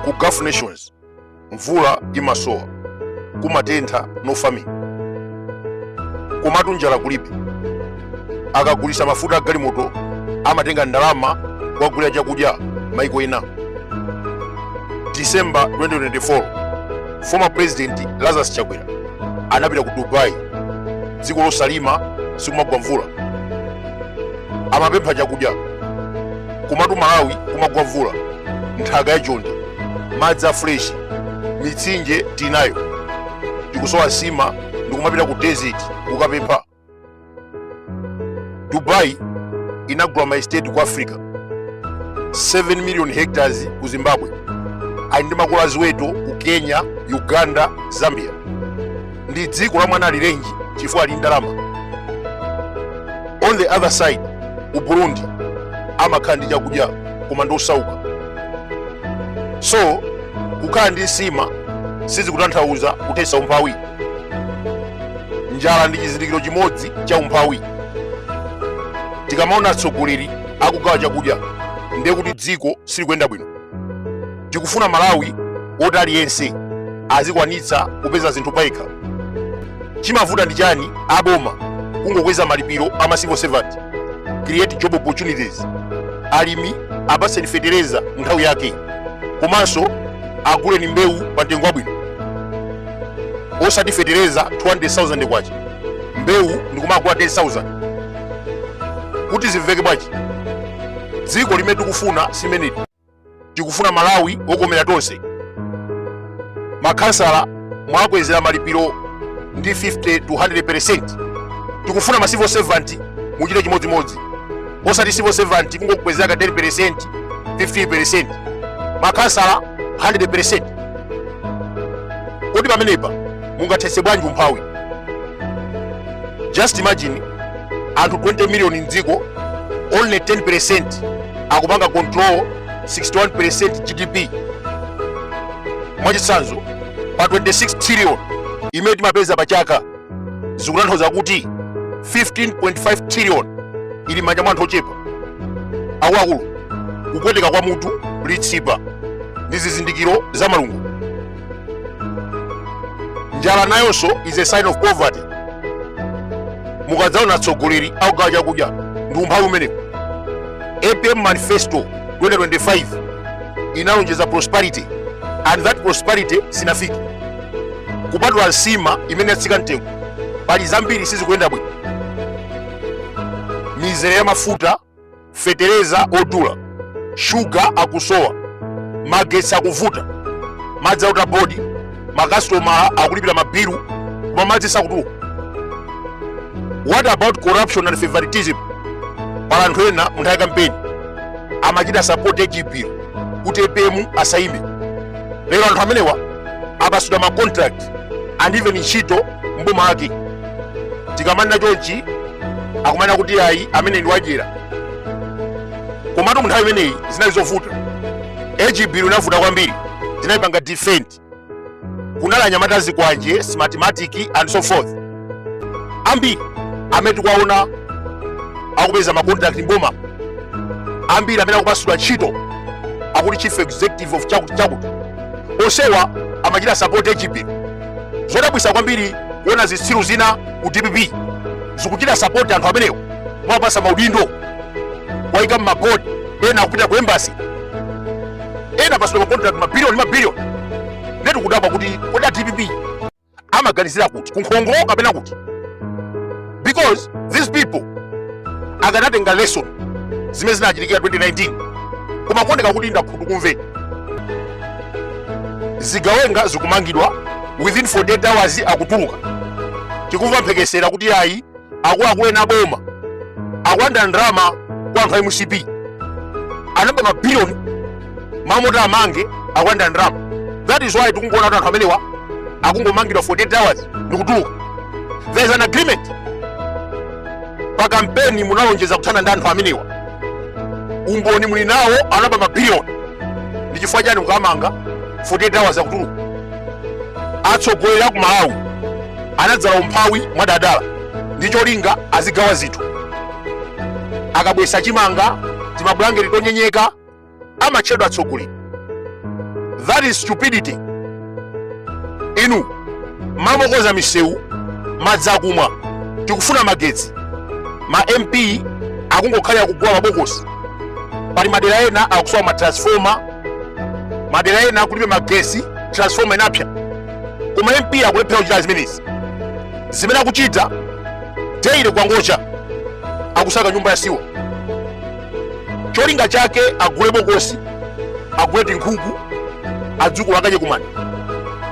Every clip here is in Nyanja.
ku gulf nations mvula imasowa kumatentha no farming komatu njala kulibe akagulisa mafuta a galimoto amatenga ndalama kukagulira chakudya maiko ena december 2024 former president lazarus chakwera anapita ku dubai dziko losalima sikumagwa mvula amapempha chakudya komatu malawi kumagwa mvula nthaka ya chonde madzi a fresh mitsinje tinayo tikusowa nsima ndikumapita ku desert kukapempha dubai inagula ma estate ku africa 7 million hectares ku zimbabwe ali ndi makola a ziweto ku kenya uganda zambia ndi dziko la mwana alirenji chifukwa ali ndi ndalama on the other side ku burundi amakhala ndi chakudya koma ndi osauka so kukhala ndi nsima sizikutanthauza kuthetsa umphawi njala ndi chizindikiro chimodzi cha umphawi tikamaona atsogoleri akugawa chakudya ndiye kuti dziko silikuyenda bwino tikufuna malawi woti aliyense azikwanitsa kupeza zinthu payekha chimavuta ndi chani aboma kungokweza malipiro a ma civil servant create job opportunities alimi apaseni fetereza nthawi yake komanso aguleni mbewu pa mtengo wabwino osati fetereza 200,000 kwacha mbewu ndikumagula 10,000 kuti zimveke bwachi dziko limene tikufuna simene tikufuna malawi wokomera tonse makhansala mwakwezera malipiro ndi 50 to 100% tikufuna ma civil servant muchite chimodzimodzi osati civil servant kungokwezera ka 10% 15% makhansala 100% kodi pamenepa mungathetse bwanji umphawi just imagine anthu 20 million mdziko only 10% akupanga control 61% gdp mwachitsanzo pa 26 trillion imene timapeza pa chaka zikutanthauza kuti 15.5 trillion ili mmanja mwa anthu ochepa akuluakulu kupweteka kwa mutu litsipa ndi zizindikiro za malungo njala nayonso is a sign of poverty mukadzaona atsogoleri akugawa chakudya ndi umphawi umenewo apm manifesto 2025 inalonjeza prosperity and that prosperity sinafike kupatula nsima imene yatsika mtengo pali zambiri sizikuyenda bwino mizere ya mafuta fetereza odula shuga akusowa magetsi akuvuta madzi a water board makasitomala akulipira mabilu koma madzi sakutuluka what about corruption and favoritism pali anthu ena munthawi kampeni amachita sapoti hb kuti apm asayime lero anthu amenewa apatsidwa macontract and even ntchito mboma ake tikamanena chonchi akumanena kuti ayi ameneyu ndi wadyera komatu mu nthawi imeneyi zinali zovuta hb inavuta kwambiri tinayipanga defend kunali anyamata zikwanje smartmatic and so forth ambiri amene tikuwaona akupeza macontract mboma ambiri amene akupatsidwa ntchito akuti chief executive of chakuti chakuti onsewa amachita support hb zodabwisa kwambiri kuona zitsiru zina ku dpp zikuchita sapoti anthu amenewo mwapatsa maudindo waika mmabodi ena akupita ku embasi ena apatsidwa makontrakt mabiliyoni mabiliyoni nde tikudabwa kuti kodi a dpp amaganizira kuti kunkhongo kapena kuti because these people akanatenga lesson zimene zinachitikira 2019 koma kuoneka kuti ndi akhutukumve zigawenga zikumangidwa within 48 hours akutuluka tikumva mphekesera kuti ayi akuluakulu ena aboma akulanda ndalama kwa anthu a mcp anaba mabiliyoni mmalo moti amange akulanda ndalama that is why tikungoona kuti anthu amenewa akungomangidwa 48 hours ndikutuluka there is an agreement pa kampeni munalonjeza kuthana ndi anthu amenewa umboni muli nawo anaba mabiliyoni ndi chifukwa chani mukamanga 48 hours akutuluka atsogoleri aku malawi anadzala umphawi mwadadala ndi cholinga azigawa zinthu akabweretsa chimanga timabulangeti tonyenyeka amatchedwa atsogoleri that is stupidity inu mumakonza misewu madzi akumwa tikufuna magetsi ma mp akungokhalira kugula mabokosi pali madera ena akusowa matransfoma madera ena kulibe magetsi transfoma inapsya koma mp akulephera kuchita zimenezi zimene akuchita daily kukangocha akusaka nyumba ya siwa cholinga chake agule bokosi agule tinkhuku adzukulu akadye kumanda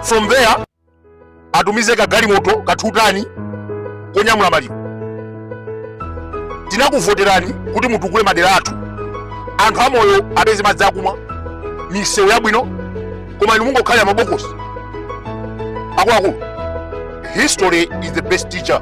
from there atumize kagalimoto kathutani konyamula maliro tinakuvoterani kuti mutukule madera athu anthu amoyo apeze madzi akumwa misewu yabwino koma inu mungokhalira mabokosi akuluakulu history is the best teacher